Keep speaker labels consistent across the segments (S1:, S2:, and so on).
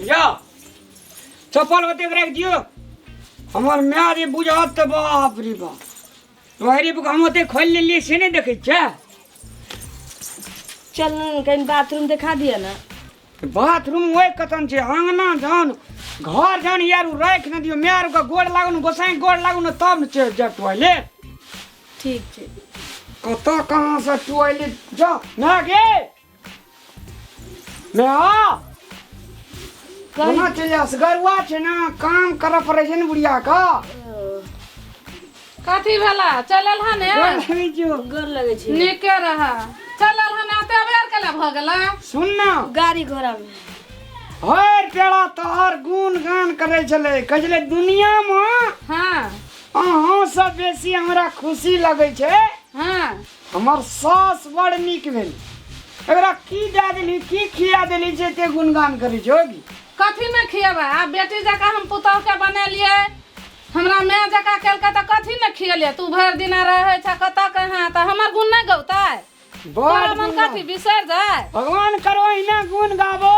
S1: जाओ चप्पल होते रख दियो हमर माय जे बुझत तऽ बाप रे बाप तोहरे बुक हम ओते खोल लेलिए से नहीं देखे छे
S2: चल न कहीं बाथरूम दिखा दिया ना बाथरूम
S1: वही कतन छे आंगना जान घर जान यार उ राख न दियो माय का गोड़ लागू न गोसाई गोड़ लागू न तब न चल जा टॉयलेट ठीक
S2: ठीक कत
S1: कहाँ से टॉयलेट जा ना गे मे हँ कोना चलि जाउ से गरुआ छै ने काम करऽ पड़ै छै ने बुढ़िया के
S3: कथी भेला चलल हन ए? गोर लगै छियौ।
S1: गोर लगै छै नीके
S2: रह
S3: चलल हन एते अबेर केला भऽ गेला सुन ने
S1: गाड़ी घोड़ा में
S2: भरि
S1: पेड़ा तोहर गुण गान करै छलै कहै छलै दुनियामे हँ
S3: अहाँ
S1: सब बेसी हमरा खुशी लगै छै हँ
S3: हमर
S1: सास बड़ नीक भेल एकरा की दए देली की खिया देली जे एते गुणगान करै छै होगी कथी ने खियेबै
S3: आ बेटी जकाँ हम पुतहुके बनेलियै हमरा माय जकाँ केलकै तऽ कथी ने खियेलियै तू भरि दिना रहै छै कतऽ कहाँ तऽ हमर गुण नहि गौतै बड़ तोरा मन गुणगान। कथी बिसरि जाय भगवान करो अहिना
S1: गुण गाबो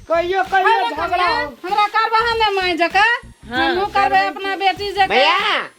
S1: कहियो कहियो हमरा झगड़ा करबै, हो हमरा करबह ने
S3: माय जकाँ हमहूँ करबै अपना बेटी जकाँ भैया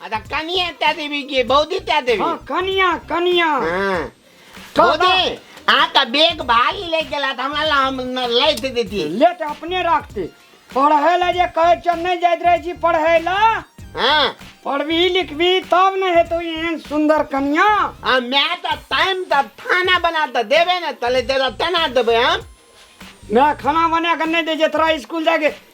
S1: अच्छा कनिया
S4: त्या देवी की बौदी त्या देवी हाँ कनिया कनिया
S1: हाँ।
S4: तो बौदी आ तो बेग भाली ले गेला त हमरा ला हम न लै दे देती लेट अपने रखते
S1: पढ़े ला जे कहे चल नहीं जात रहे छी पढ़े ला हां
S4: पढ़बी
S1: लिखबी तब न हेतो एहन सुंदर कनिया आ मैं तो
S4: टाइम त खाना बना त देबे न तले तेरा तना देबे हम मैं
S1: खाना बना के नहीं दे जे तोरा स्कूल जाके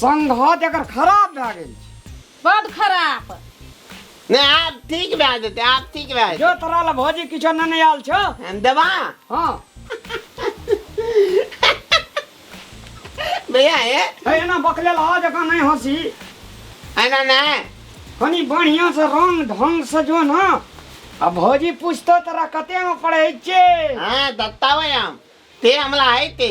S1: संघत एकर खराब भए गेल छै बड
S3: खराब ने
S4: आब ठीक भए जेतै आब ठीक भए जेतै जो तोरा लए भौजी
S1: किछो नहि ने आयल छौ हम देबा
S4: हँ भैया हे हे एना बकलेल
S1: हा जकाँ नहि हँसी एना
S4: नहि कनी
S1: बढ़िया से रंग ढंग से जो ना आ भौजी पूछतो तोरा कते में पढ़े छे हाँ दत्ता
S4: भाई हम ते हमला है ते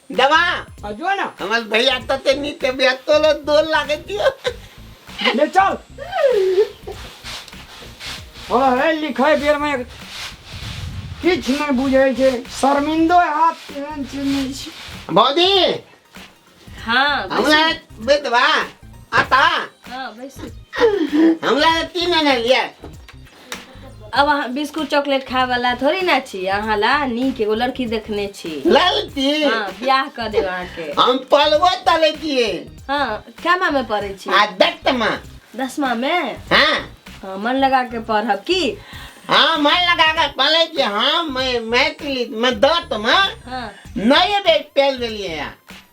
S1: दवा आ जो
S4: ना
S1: हमार भैया तो ते
S4: नी ते भैया तो लो दो लागे दियो ले
S1: चल अरे लिखे बेर में किछ नहीं बुझे छे शर्मिंदो हाथ केहन चीज नहीं छी भौजी हाँ
S2: हमला
S4: बेदवा आता हाँ
S2: बैसू हमला
S4: तीन ने लिया
S2: अब अहाँ बिस्कुट चॉकलेट खाए वाला थोड़ी ना छी अहाँ ला नीक एगो लड़की देखने छी ललती हाँ
S4: बियाह कर
S2: देब अहाँके हम पलवा तले
S4: दिए हाँ
S2: केमा में पढ़े छी आ दत्तमा
S4: दसमा में
S2: हाँ हाँ
S4: मन लगा
S2: के पढ़ब की हाँ मैं
S4: लगा कर पले दिए हाँ मैं मैथिली मैं दत्तमा हाँ नहीं
S2: बे
S4: पेल दिए यार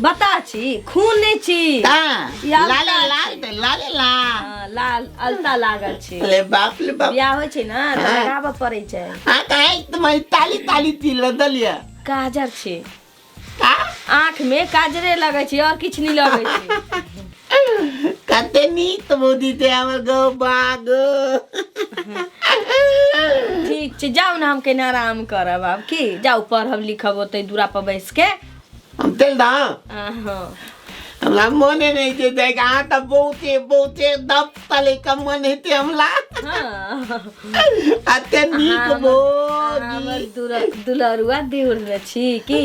S2: बता छी खून नहि छी ता या
S4: लाले बता
S2: लाल छी। ते लाले
S4: ला हँ, लाल
S2: अलता लागल छी ले बाप ले बाप बियाह
S4: होइ छै ने तऽ
S2: हँ। लगाबऽ पड़ै छै
S4: आ
S2: काहे तुम्हारी
S4: ताली ताली ती लदलिया काजर छी
S2: का
S4: आँख में
S2: काजरे लगै छै और किछु नहि लगै छै
S4: कते नीक तो बोदी ते हमर गो बाग
S2: ठीक छै जाउ ने हम कनि आराम करब आब की जाउ पढ़ब लिखब ओतै दूरा पर बैस के हम तेल दा
S4: आहो
S2: हमरा
S4: मने नहीं छै दे के अहाँ तऽ बहुते बहुते दब तले के मन हेते हमला
S2: हाँ
S4: अते नीक हमर बोगी
S2: दुल-
S4: दुलरुआ देउर
S2: में छी कि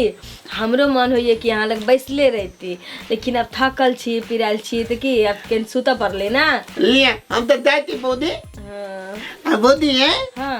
S2: हमरो मन होइए कि अहाँ लग बैसले रहती लेकिन अब थकल छी पिरायल छी तऽ की अब केन सुतऽ पड़लै ना ले हम तऽ
S4: जाय छी बोदी हाँ आ
S2: बोदी है हाँ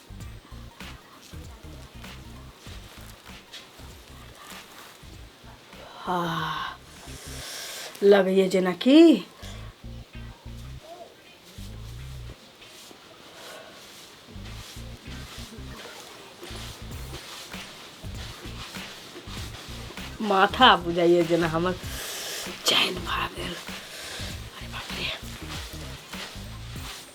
S2: लगैए जेनाकि माथा बुझाइए जेना हमर चैन भए गेल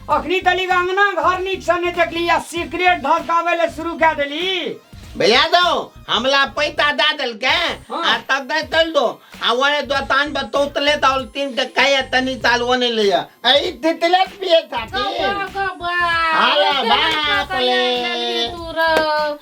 S1: अखनी तली अंगना घर नीक से नहीं देखली आ सिगरेट ढकावे ले शुरू कर देली भैया दो
S4: हमला पैसा दे दिल के हाँ। आ तब दे
S1: चल
S4: दो आ वही दोतान पर तोतले तो और तीन के कहे तनी साल वो नहीं लिया ऐ तितले पिए खाती अरे बाप रे।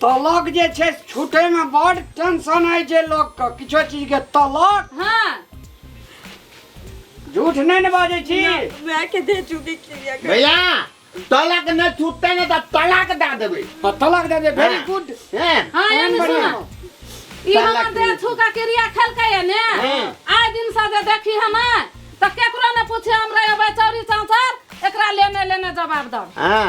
S1: तलक जे छै छूटे में बड़ टेंशन है जे लोग के किछो चीज के तलक हाँ झूठ नहीं ने बाजे छी मैं के दे
S2: चुकी क्रिया कर भैया
S4: तलक न छूटते न त तलाक दा देबे हाँ, तलक दे दे वेरी हाँ।
S1: गुड हैं हाँ ये में
S4: बढ़िया।
S3: सुना ई तलाक हमर दे दे दे। छुका क्रिया खेलकै है ने हाँ। आइ दिन से जे देखी हम त केकरो ने पूछे हमरा एबै चौरी चौथर एकरा लेने लेने जवाब दब हां